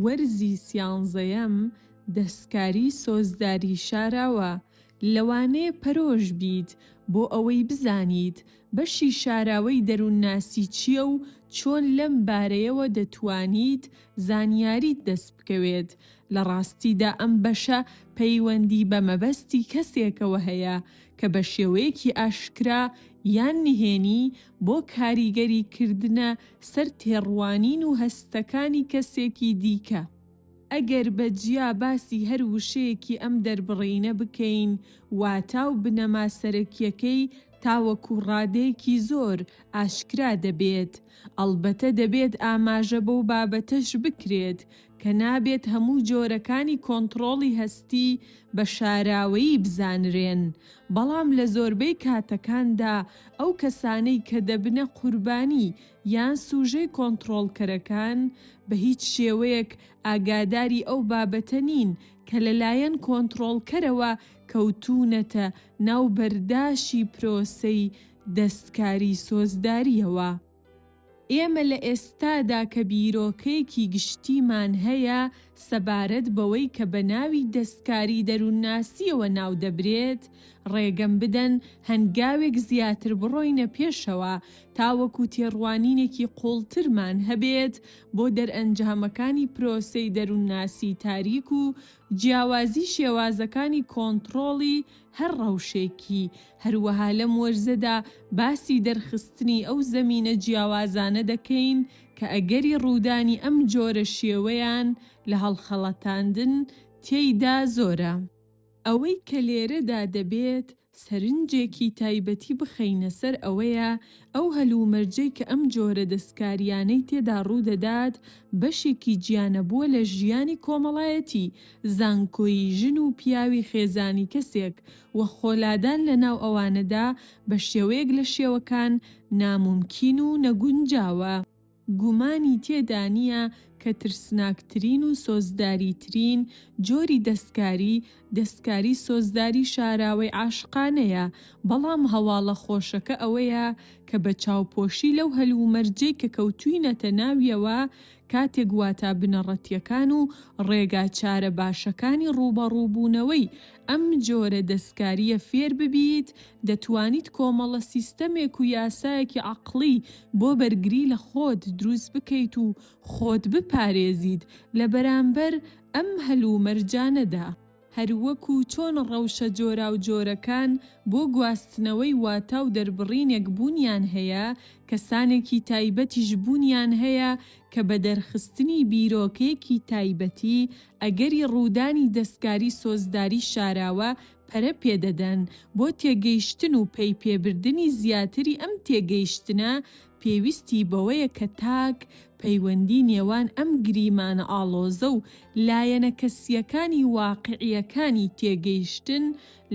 وەرزی سیانزەیەم دەستکاری سۆزداری شاراوە، لەوانەیە پەرۆش بیت بۆ ئەوەی بزانیت بەشی شاراوەی دەروونناسی چییە و چۆن لەم بارەیەوە دەتوانیت زانیاریت دەست بکەوێت، لە ڕاستیدا ئەم بەشە پەیوەندی بە مەبەستی کەسێکەوە هەیە کە بە شێوەیەکی ئاشکرا یان نهێنی بۆ کاریگەری کردنە سەر تێڕوانین و هەستەکانی کەسێکی دیکە. ئەگەر بە جیا باسی هەر وشەیەکی ئەم دەربڕینە بکەین، واتا و بنەما سەرەکیەکەی تاوەکو ڕادەیەکی زۆر ئاشکرا دەبێت. ئەڵبەتە دەبێت ئاماژە بەو بابەتەش بکرێت کە نابێت هەموو جۆرەکانی کۆنتڕۆڵی هەستی بە شاراوەیی بزانرێن، بەڵام لە زۆربەی کاتەکاندا ئەو کەسانەی کە دەبنە قوربانی یان سوژەی کۆنتڕۆڵکەرەکان بە هیچ شێوەیەک ئاگاداری ئەو بابەتە نین کە لەلایەن کۆنتڕۆڵکەرەوە کەوتوونەتە ناو بەرداشی پرۆسەی دەستکاری سۆزدارییەوە. ئێمە لە ئێستادا کە بیرۆکەیەکی گشتیمان هەیە سەبارەت بەوەی کە بە ناوی دەستکاری دەروونناسییەوە ناو دەبرێت، ڕێگەم بدەن هەنگاوێک زیاتر بڕۆینە پێشەوە تاوەکو تێڕوانینێکی قووڵترمان هەبێت بۆ دەرئەنجامەکانی پرۆسەی دەروونناسی تاریک و جیاوازی شێوازەکانی کۆنتڕۆڵی هەر ڕەوشێکی هەروەها لەم وەرزەدا باسی دەرخستنی ئەو زەمینە جیاوازانە دەکەین کە ئەگەری ڕوودانی ئەم جۆرە شێوەیان لە هەڵخەڵەتاندن تێیدا زۆرە. ئەوەی کە لێرەدا دەبێت سەرنجێکی تایبەتی بخەینە سەر ئەوەیە ئەو هەلومەرجەی کە ئەم جۆرە دەستکارییانەی تێدا ڕوودەدات بەشێکی جیانەبووە لە ژیانی کۆمەڵایەتی زانکۆیی ژن و پیاوی خێزانی کەسێک و خۆلادان لە ناو ئەوانەدا بە شێوەیەک لە شێوەکان نامومکین و نەگونجاوە. گومانی تێدا نییە کە ترسناکترین و سۆزداریترین جۆری دەستکاری، دەستکاری سۆزداری شاراوەی عاشقانەیە، بەڵام هەواڵە خۆشەکە ئەوەیە کە بە چاوپۆشی لەو هەلومەرجەی کە کەوتووینەتە ناویەوە، کاتێک واتا بنەڕەتییەکان و ڕێگا چارە باشەکانی ڕووبەڕووبوونەوەی ئەم جۆرە دەستکارییە فێر ببیت، دەتوانیت کۆمەڵە سیستەمێک و یاسایەکی عەقڵی بۆ بەرگری لە خۆت دروست بکەیت و خۆت بپارێزیت لە بەرامبەر ئەم هەلومەرجانەدا. هەروەکو چۆن ڕەوشە جۆراوجۆرەکان بۆ گواستنەوەی واتا و دەربڕینێک بوونیان هەیە، کەسانێکی تایبەتیش بوونیان هەیە کە بە دەرخستنی بیرۆکەیەکی تایبەتی، ئەگەری ڕوودانی دەستکاری سۆزداری شاراوە پەرە پێ دەدەن، بۆ تێگەیشتن و پەیپێبردنی زیاتری ئەم تێگەیشتنە پێویستی بەوەیە کە تاک پەیوەندی نێوان ئەم گریمانە ئاڵۆزە و لایەنە کەسییەکانی واقیعییەکانی تێگەیشتن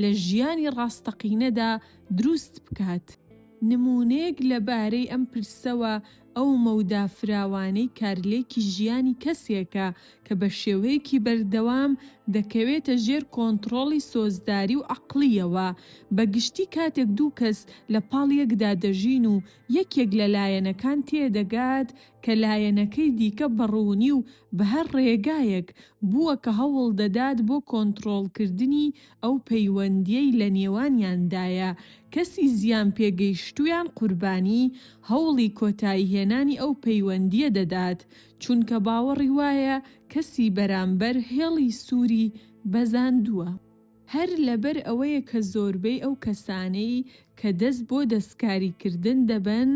لە ژیانی ڕاستەقینەدا دروست بکات. نموونەیەک لە بارەی ئەم پرسەوە ئەو مەودا فراوانەی کارلێکی ژیانی کەسێکە کە بە شێوەیەکی بەردەوام دەکەوێتە ژێر کۆنتڕۆڵی سۆزداری و عەقڵییەوە، بە گشتی کاتێک دوو کەس لە پاڵ یەکدا دەژین و یەکێک لە لایەنەکان تێدەگات کە لایەنەکەی دیکە بە ڕوونی و بە هەر ڕێگایەک بووە کە هەوڵ دەدات بۆ کۆنتڕۆڵکردنی ئەو پەیوەندییەی لە نێوانیاندایە کەسی زیانپێگەیشتوویان قوربانی هەوڵی کۆتاییهێنانی ئەو پەیوەندییە دەدات چونکە باوەڕی وایە کەسی بەرامبەر هێڵی سووری بەزاندووە. هەر لەبەر ئەوەیە کە زۆربەی ئەو کەسانەی کە دەست بۆ دەستکاریکردن دەبەن،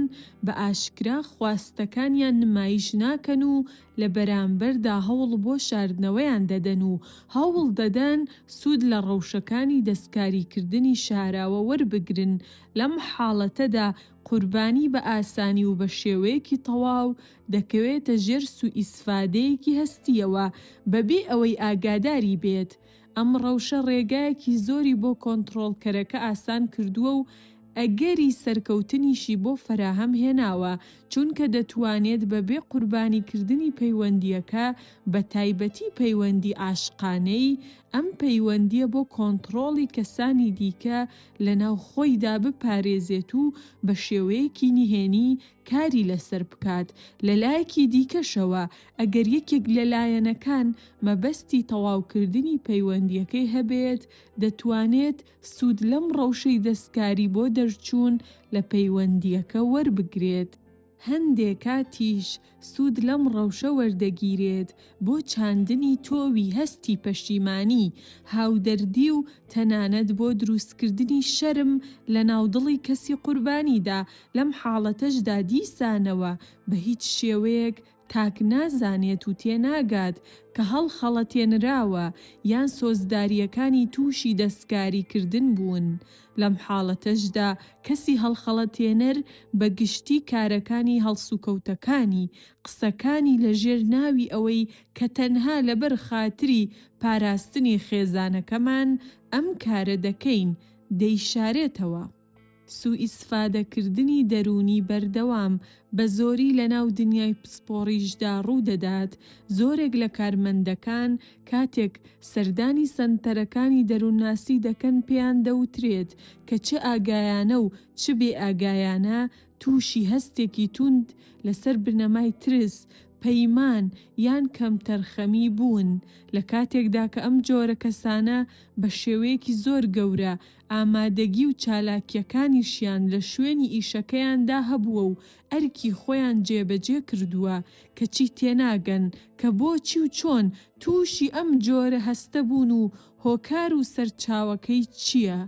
بە ئاشکرا خواستەکانیان نمایش ناکەن و لە بەرامبەردا هەوڵ بۆ شاردنەوەیان دەدەن و هەوڵ دەدەن سوود لە ڕەوشەکانی دەستکاریکردنی شاراوە وەربگرن، لەم حاڵەتەدا قوربانی بە ئاسانی و بە شێوەیەکی تەواو دەکەوێتە ژێر سووئیسفادەیەکی هەستییەوە بەبێ ئەوەی ئاگاداری بێت، ئەم ڕەوشە ڕێگایەکی زۆری بۆ کۆنتڕۆڵکەرەکە ئاسان کردووە و ئەگەری سەرکەوتنیشی بۆ فەراهەم هێناوە، چونکە دەتوانێت بەبێ قوربانیکردنی پەیوەندییەکە بە تایبەتی پەیوەندی عاشقانەی، ئەم پەیوەندییە بۆ کۆنتڕۆڵی کەسانی دیکە لەناو خۆیدا بپارێزێت و بە شێوەیەکی نهێنی کاری لەسەر بکات، لەلایەکی دیکەشەوە ئەگەر یەکێک لە لایەنەکان مەبەستی تەواوکردنی پەیوەندییەکەی هەبێت، دەتوانێت سوود لەم ڕەوشەی دەستکاری بۆ دەرچوون لە پەیوەندییەکە وەربگرێت، هەندێک کاتیش سوود لەم ڕەوشە وەردەگیرێت بۆ چاندنی تۆوی هەستی پەشیمانی، هاودەردی و تەنانەت بۆ دروستکردنی شەرم لە ناو دڵی کەسی قوربانیدا، لەم حاڵەتەشدا دیسانەوە بە هیچ شێوەیەک تاک نازانێت و تێناگات کە هەڵخەڵەتێنراوە یان سۆزدارییەکانی تووشی دەستکاریکردن بوون، لەم حاڵەتەشدا کەسی هەڵخەڵەتێنەر بە گشتی کارەکانی هەڵسوکەوتەکانی قسەکانی لە ژێر ناوی ئەوەی کە تەنها لەبەر خاتری پاراستنی خێزانەکەمان ئەم کارە دەکەین، دەیشارێتەوە. سوئیسفادە کردنی دەروونی بەردەوام بە زۆری لە ناو دنیای پسپۆڕیشدا ڕوو دەدات، زۆرێک لە کارمەندەکان کاتێک سەردانی سەنتەرەکانی دەروونناسی دەکەن پێیان دەوترێت کە چ ئاگایانە و چ بێ ئاگایانە تووشی هەستێکی توند لەسەر بنەمای ترس، پەیمان، یان کەمتەرخەمی بوون، لە کاتێکدا کە ئەم جۆرە کەسانە بە شێوەیەکی زۆر گەورە ئامادەگی و چالاکییەکانیشیان لە شوێنی ئیشەکەیاندا هەبووە و ئەرکی خۆیان جێبەجێ کردووە، کەچی تێناگەن کە بۆچی و چۆن تووشی ئەم جۆرە هەستە بوون و هۆکار و سەرچاوەکەی چییە.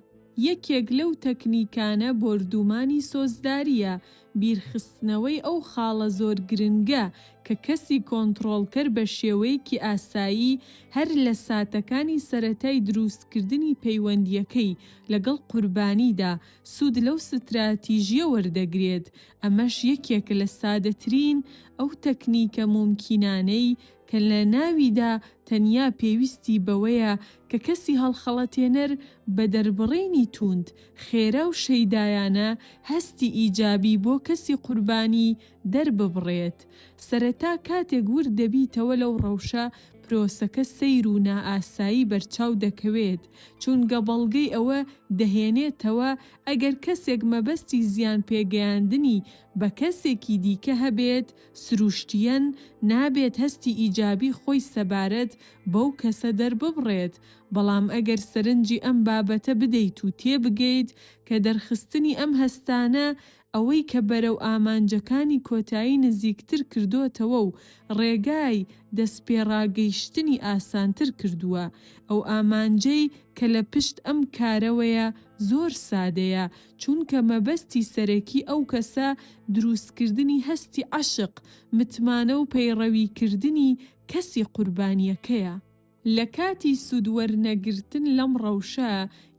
یەکێک لەو تەکنیکانە بۆردوومانی سۆزدارییە، بیرخستنەوەی ئەو خاڵە زۆر گرنگە کە کەسی کۆنتڕۆڵکەر بە شێوەیەکی ئاسایی هەر لە ساتەکانی سەرەتای درووستکردنی پەیوەندییەکەی لەگەڵ قوربانیدا سوود لەو ستراتیژییە وەردەگرێت، ئەمەش یەکێکە لە سادەترین ئەو تەکنیکە مومکینانەی کە لە ناویدا تەنیا پێویستی بەوەیە کە کەسی هەڵخەڵەتێنەر بە دەربڕینی تووند، خێرا و شەیدایانە هەستی ئیجابی بۆ کەسی قوربانی دەرببڕێت. سەرەتا کاتێک ورد دەبیتەوە لەو ڕەوشە، پرۆسەکە سەیر و نائاسایی بەرچاو دەکەوێت، چونگە بەڵگەی ئەوە دەهێنێتەوە ئەگەر کەسێک مەبەستی زیان پێگەیاندنی بە کەسێکی دیکە هەبێت، سروشتیەن نابێت هەستی ئیجابی خۆی سەبارەت بەو کەسە دەرببڕێت، بەڵام ئەگەر سەرنجی ئەم بابەتە بدەیت و تێبگەیت کە دەرخستنی ئەم هەستانە ئەوەی کە بەرەو ئامانجەکانی کۆتایی نزیکتر کردۆتەوە و ڕێگای دەستپێڕاگەیشتنی ئاسانتر کردووە، ئەو ئامانجەی کە لە پشت ئەم کارەوەیە زۆر سادەیە، چونکە مەبەستی سەرەکی ئەو کەسە دروستکردنی هەستی عەشق، متمانە و پەیڕەویکردنی کەسی قوربانییەکەیە. لە کاتی سوود وەرنەگرتن لەم ڕەوشە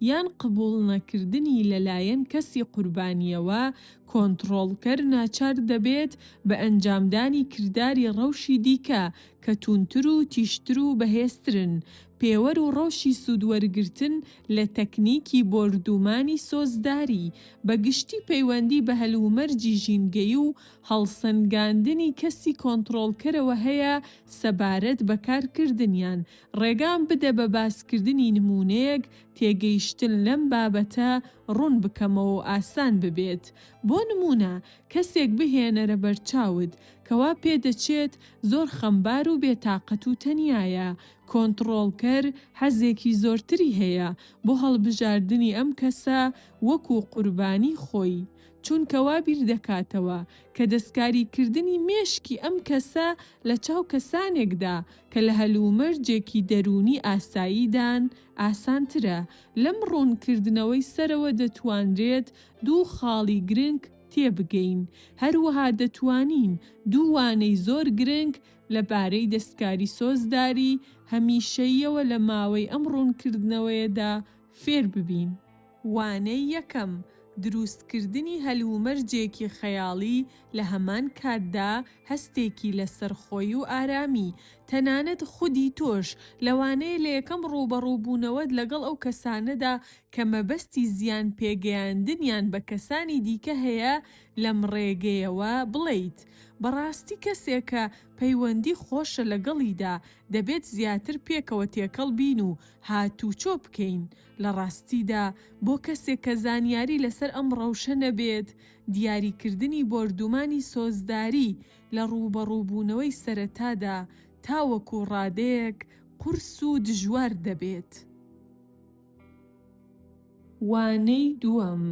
یان قبووڵ نەکردنی لەلایەن کەسی قوربانییەوە، کۆنتڕۆڵکەر ناچار دەبێت بە ئەنجامدانی کرداری ڕەوشی دیکە کە تووندتر و تیژتر و بەهێزترن، پێوەر و ڕەوشی سوودوەرگرتن لە تەکنیکی بۆردوومانی سۆزداری، بە گشتی پەیوەندی بە هەلومەرجی ژینگەیی و هەڵسەنگاندنی کەسی کۆنتڕۆڵکەرەوە هەیە سەبارەت بە کارکردنیان، ڕێگام بدە بە باسکردنی نموونەیەک تێگەیشتن لەم بابەتە ڕوون بکەمەوە و ئاسان ببێت، بۆ نموونە کەسێک بهێنەرە بەرچاوت کەوا پێدەچێت زۆر خەمبار و بێ تاقەت و تەنیایە، کۆنتڕۆڵکەر حەزێکی زۆرتری هەیە بۆ هەڵبژاردنی ئەم کەسە وەکو قوربانی خۆی، چونکە وا بیردەکاتەوە کە دەستکاریکردنی مێشکی ئەم کەسە لە چاو کەسانێکدا کە لە هەلومەرجێکی دەروونی ئاساییدان ئاسانترە، لەم ڕوونکردنەوەی سەرەوە دەتوانرێت دوو خاڵی گرنگ تێبگەین، هەروەها دەتوانین دوو وانەی زۆر گرنگ لە بارەی دەستکاری سۆزداری هەمیشەییەوە لە ماوەی ئەم ڕوونکردنەوەیەدا فێر ببین. وانەی یەکەم، درووستکردنی هەلومەرجێکی خەیاڵی لە هەمان کاتدا هەستێکی لەسەرخۆی و ئارامی تەنانەت خودی تۆش، لەوانەیە لە یەکەم ڕووبەڕووبوونەوەت لەگەڵ ئەو کەسانەدا کە مەبەستی زیان پێگەیاندنیان بە کەسانی دیکە هەیە لەم ڕێگەیەوە بڵێیت، بەڕاستی کەسێکە پەیوەندی خۆشە لەگەڵیدا، دەبێت زیاتر پێکەوە تێکەڵ بین و هاتووچۆ بکەین، لە ڕاستیدا بۆ کەسێک کە زانیاری لەسەر ئەم ڕەوشە نەبێت، دیاریکردنی بۆردوومانی سۆزداری، لە ڕووبەڕووبوونەوەی سەرەتادا تاوەکو ڕادەیەک قورس و دژوار دەبێت. وانەی دووەم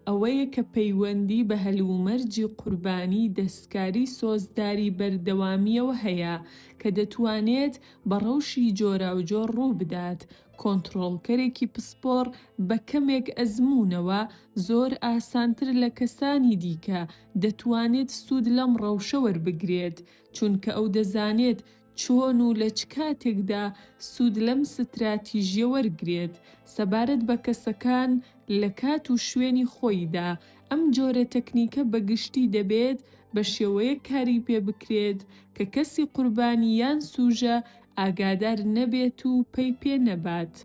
ئەوەیە کە پەیوەندی بە هەلومەرجی قوربانی دەستکاری سۆزداری بەردەوامییەوە هەیە کە دەتوانێت بە ڕەوشی جۆراوجۆر ڕووبدات، کۆنتڕۆڵکەرێکی پسپۆڕ بە کەمێک ئەزموونەوە زۆر ئاسانتر لە کەسانی دیکە دەتوانێت سوود لەم ڕەوشە وەربگرێت، چونکە ئەو دەزانێت چۆن و لە چ کاتێکدا سوود لەم ستراتیژییە وەرگرێت. سەبارەت بە کەسەکان لە کات و شوێنی خۆیدا، ئەم جۆرە تەکنیکە بە گشتی دەبێت بە شێوەیەک کاری پێ بکرێت کە کەسی قوربانی یان سووژە ئاگادار نەبێت و پەی پێ نەبات.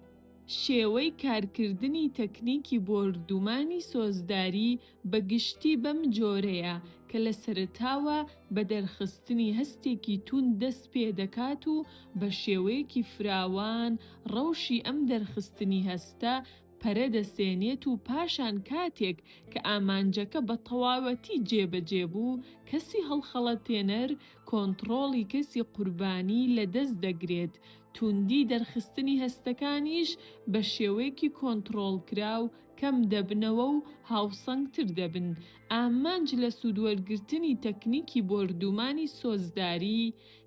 شێوەی کارکردنی تەکنیکی بۆردومانی سۆزداری بە گشتی بەم جۆرەیە کە لە سەرەتاوە بە دەرخستنی هەستێکی توند دەست پێ دەکات و بە شێوەیەکی فراوان ڕەوشی ئەم دەرخستنی هەستە پەرە دەسێنێت و پاشان کاتێک کە ئامانجەکە بە تەواوەتی جێ بە جێ بوو کەسی هەڵخەڵەتێنەر کۆنتڕۆڵی کەسی قوربانی لە دەست دەگرێت توندی دەرخستنی هەستەکانیش بە شێوەیەکی کۆنتڕۆڵکراو کەم دەبنەوە و هاوسەنگتر دەبن، ئامانج لە سوودوەرگرتنی تەکنیکی بۆردوومانی سۆزداری،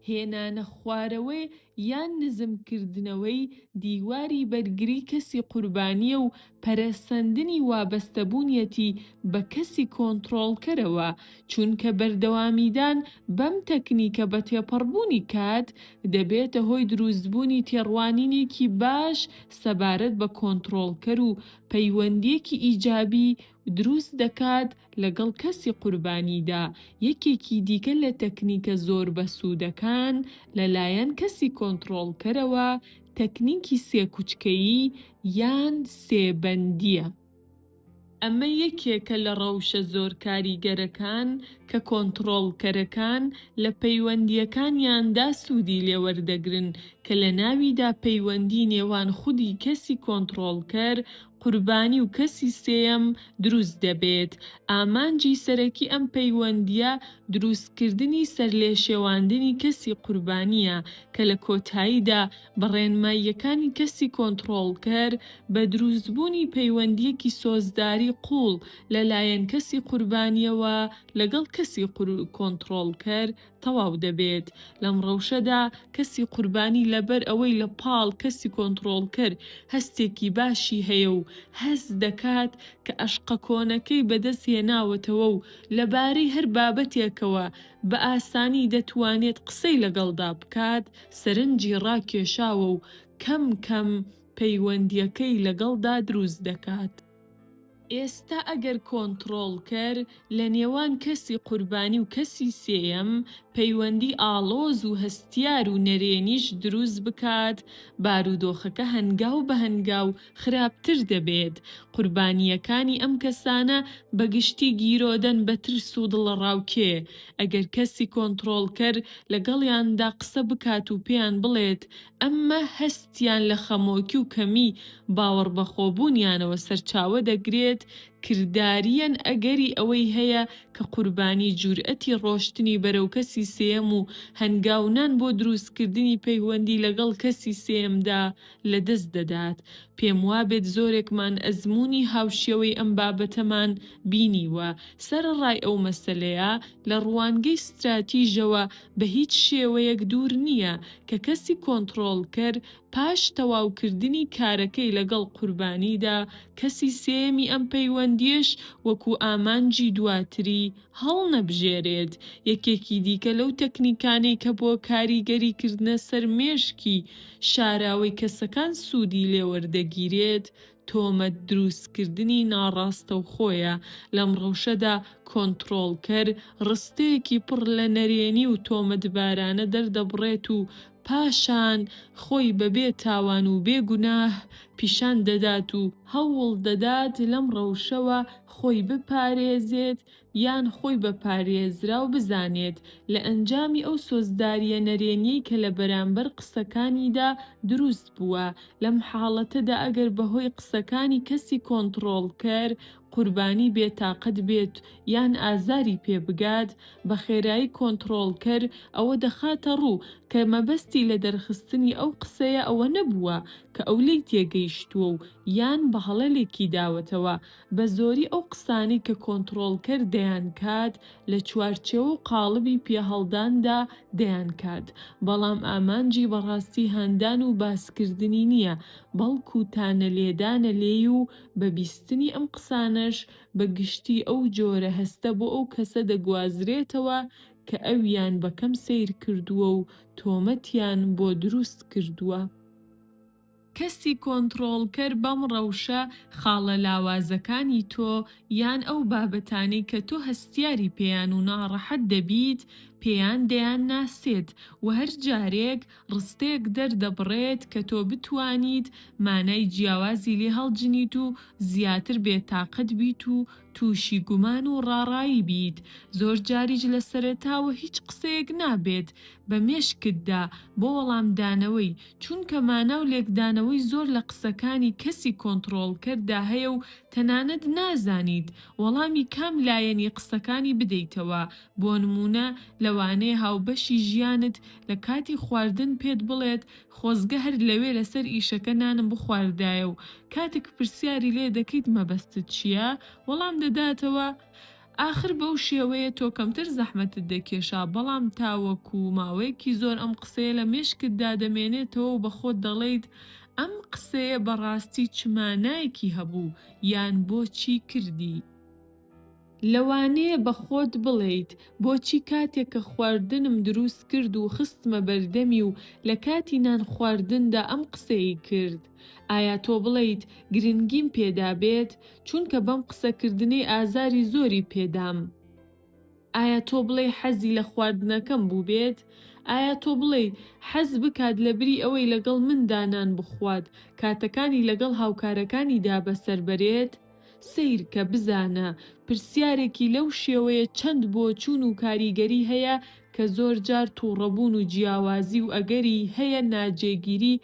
هێنانە خوارەوەی یان نزمکردنەوەی دیواری بەرگری کەسی قوربانییە و پەرەسەندنی وابەستەبوونیەتی بە کەسی کۆنتڕۆڵکەرەوە، چونکە بەردەوامیدان بەم تەکنیکە بە تێپەڕبوونی کات دەبێتە هۆی دروستبوونی تێڕوانینێکی باش سەبارەت بە کۆنتڕۆڵکەر و پەیوەندیەکی ئیجابی دروست دەکات لەگەڵ کەسی قوربانیدا، یەکێکی دیکە لە تەکنیکە زۆر بەسوودەکان لەلایەن کەسی کۆنتڕۆڵکەرەوە تەکنیکی سێ کوچکەیی یان سێ بەندیە. ئەمە یەکێکە لە ڕەوشە زۆر کاریگەرەکان کە کۆنتڕۆڵکەرەکان لە پەیوەندییەکانیاندا سوودی لێ وەردەگرن، کە لە ناویدا پەیوەندی نێوان خودی کەسی کۆنتڕۆڵکەر، قوربانی و کەسی سێیەم دروست دەبێت. ئامانجی سەرەکی ئەم پەیوەندییە دروستکردنی سەرلێشێواندنی کەسی قوربانییە کە لە کۆتاییدا بە ڕێنماییەکانی کەسی کۆنتڕۆڵکەر، بە دروستبوونی پەیوەندییەکی سۆزداری قووڵ لەلایەن کەسی قوربانییەوە لەگەڵ کەسی کۆنتڕۆڵکەر تەواو دەبێت. لەم ڕەوشەدا کەسی قوربانی لەبەر ئەوەی لە پاڵ کەسی کۆنتڕۆڵکەر هەستێکی باشی هەیە و هەست دەکات کە ئەشقە کۆنەکەی بەدەست هێناوەتەوە و لەبارەی هەر بابەتێکەوە بە ئاسانی دەتوانێت قسەی لەگەڵدا بکات، سەرنجی ڕاکێشاوە و کەم کەم پەیوەندییەکەی لەگەڵدا دروست دەکات. ئێستا ئەگەر کۆنتڕۆڵکەر لە نێوان کەسی قوربانی و کەسی سێیەم پەیوەندی ئاڵۆز و هەستیار و نەرێنیش دروست بکات، بارودۆخەکە هەنگاو بە هەنگاو خراپتر دەبێت، قوربانییەکانی ئەم کەسانە بە گشتی گیرۆدەن بە ترس و دڵەڕاوکێ، ئەگەر کەسی کۆنتڕۆڵکەر لەگەڵیاندا قسە بکات و پێیان بڵێت ئەمە هەستیان لە خەمۆکی و کەمی باوەڕبەخۆبوونیانەوە سەرچاوە دەگرێت کرداریەن ئەگەری ئەوەی هەیە کە قوربانی جورئەتی ڕۆشتنی بەرەو کەسی سێیەم و هەنگاونان بۆ دروستکردنی پەیوەندی لەگەڵ کەسی سێیەمدا لەدەست دەدات، پێم وابێت زۆرێکمان ئەزموونی هاوشێوەی ئەم بابەتەمان بینیوە، سەرەڕای ئەو مەسەلەیە لە ڕوانگەی ستراتیژەوە بە هیچ شێوەیەک دوور نییە کە کەسی کۆنتڕۆڵکەر پاش تەواوکردنی کارەکەی لەگەڵ قوربانیدا کەسی سێیەمی ئەم پەیوەندییەش وەکو ئامانجی دواتری هەڵنەبژێرێت، یەکێکی دیکە لەو تەکنیکانەی کە بۆ کاریگەری کردنە سەر مێشکی شاراوەی کەسەکان سوودی لێوەردەگیرێت، تۆمەت دروستکردنی ناڕاستەوخۆیە، لەم ڕەوشەدا کۆنتڕۆڵکەر ڕستەیەکی پڕ لە نەرێنی و تۆمەتبارانە دەردەبڕێت و پاشان خۆی بە بێ تاوان و بێ گوناه پیشان دەدات و هەوڵ دەدات لەم ڕەوشەوە خۆی بپارێزێت یان خۆی بە پارێزراو بزانێت، لە ئەنجامی ئەو سۆزدارییە نەرێنیەی کە لە بەرامبەر قسەکانیدا دروست بووە، لەم حاڵەتەدا ئەگەر بەهۆی قسەکانی کەسی کۆنتڕۆڵکەر، قوربانی بێ تاقەت بێت یان ئازاری پێ بگات، بە خێرایی کۆنتڕۆڵکەر ئەوە دەخاتە ڕوو کە مەبەستی لە دەرخستنی ئەو قسەیە ئەوە نەبووە کە ئەو لێی تێگەیشتووە و یان بە هەڵە لێکی داوەتەوە، بە زۆری ئەو قسانەی کە کۆنتڕۆڵکەر دەیانکات لە چوارچێوە و قاڵبی پێهەڵداندا دەیانکات، بەڵام ئامانجی بەڕاستی هاندان و باسکردنی نییە، بەڵکو تانەلێدانە لێی و بە بیستنی ئەم قسانەش بە گشتی ئەو جۆرە هەستە بۆ ئەو کەسە دەگوازرێتەوە کە ئەویان بە کەم سەیر کردووە و تۆمەتیان بۆ دروست کردووە. کەسی کۆنتڕۆڵکەر بەم ڕەوشە خاڵە لاوازەکانی تۆ یان ئەو بابەتانەی کە تۆ هەستیاری پێیان و ناڕەحەت دەبیت پێیان دەیانناسێت و هەر جارێک ڕستەیەک دەردەبڕێت کە تۆ بتوانیت مانای جیاوازی لێ هەڵجنیت و زیاتر بێتاقەت بیت و تووشی گومان و ڕاڕایی بیت. زۆر جاریش لە سەرەتاوە هیچ قسەیەک نابێت بە مێشکتدا بۆ وەڵامدانەوەی، چونکە مانا و لێکدانەوەی زۆر لە قسەکانی کەسی کۆنتڕۆڵکەردا هەیە و تەنانەت نازانیت وەڵامی کام لایەنی قسەکانی بدەیتەوە، بۆ نموونە لەوانەیە هاوبەشی ژیانت لە کاتی خواردن پێت بڵێت خۆزگە هەر لەوێ لەسەر ئیشەکە نانم بخواردایە و کاتێک پرسیاری لێ دەکەیت مەبەستت چییە؟ وەڵام دەداتەوە ئاخر بەو شێوەیە تۆ کەمتر زەحمەتت دەکێشا، بەڵام تاوەکو ماوەیەکی زۆر ئەم قسەیە لە مێشکتدا دەمێنێتەوە و بەخۆت دەڵێیت ئەم قسەیە بەڕاستی چ مانایەکی هەبوو یان بۆچی کردی؟ لەوانەیە بە خۆت بڵێیت، بۆچی کاتێک کە خواردنم دروست کرد و خستمە بەردەمی و لە کاتی نان خواردندا ئەم قسەی کرد؟ ئایا تۆ بڵێیت گرنگیم پێدابێت، چونکە بەم قسەکردنەی ئازاری زۆری پێدام؟ ئایا تۆ بڵێی حەزی لە خواردنەکەم بووبێت؟ ئایا تۆ بڵێی حەز بکات لەبری ئەوەی لەگەڵ مندا نان بخوات، کاتەکانی لەگەڵ هاوکارەکانیدا بەسەر بەرێت؟ سەیرکە بزانە پرسیارێکی لەو شێوەیە چەند بۆچوون و کاریگەری هەیە کە زۆر جار توڕەبوون و جیاوازی و ئەگەری هەیە ناجێگیری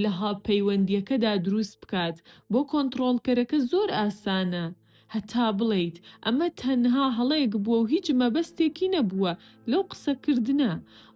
لە پەیوەندیەکەدا دروست بکات بۆ کۆنتڕۆڵکەرەکە زۆر ئاسانە هەتا بڵێیت ئەمە تەنها هەڵەیەک بووە و هیچ مەبەستێکی نەبووە لەو قسەکردنە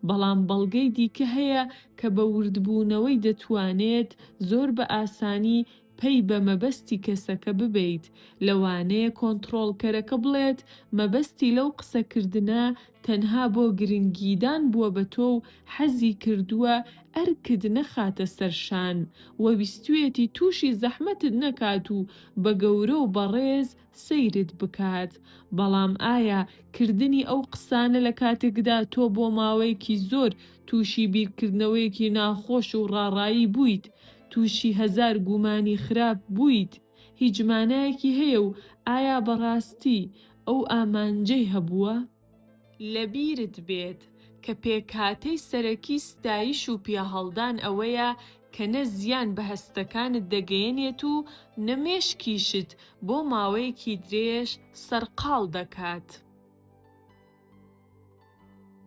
بەڵام بەڵگەی دیکە هەیە کە بە وردبوونەوەی دەتوانێت زۆر بە ئاسانی پەی بە مەبەستی کەسەکە ببەیت، لەوانەیە کۆنتڕۆڵکەرەکە بڵێت مەبەستی لەو قسەکردنە تەنها بۆ گرنگیدان بووە بە تۆ و حەزی کردووە ئەرکت نەخاتە سەر شان و ویستویەتی تووشی زەحمەتت نەکات و بە گەورە و بەڕێز سەیرت بکات، بەڵام ئایا کردنی ئەو قسانە لە کاتێکدا تۆ بۆ ماوەیەکی زۆر تووشی بیرکردنەوەیەکی ناخۆش و ڕاڕایی بوویت، تووشی هەزار گومانی خراپ بوویت، هیچ مانایەکی هەیە و ئایا بەڕاستی ئەو ئامانجەی هەبووە؟ لەبیرت بێت کە پێکهاتەی سەرەکی ستایش و پیاهەڵدان ئەوەیە کە نە زیان بە هەستەکانت دەگەیەنێت و نە مێشکیشت بۆ ماوەیەکی درێژ سەرقاڵ دەکات.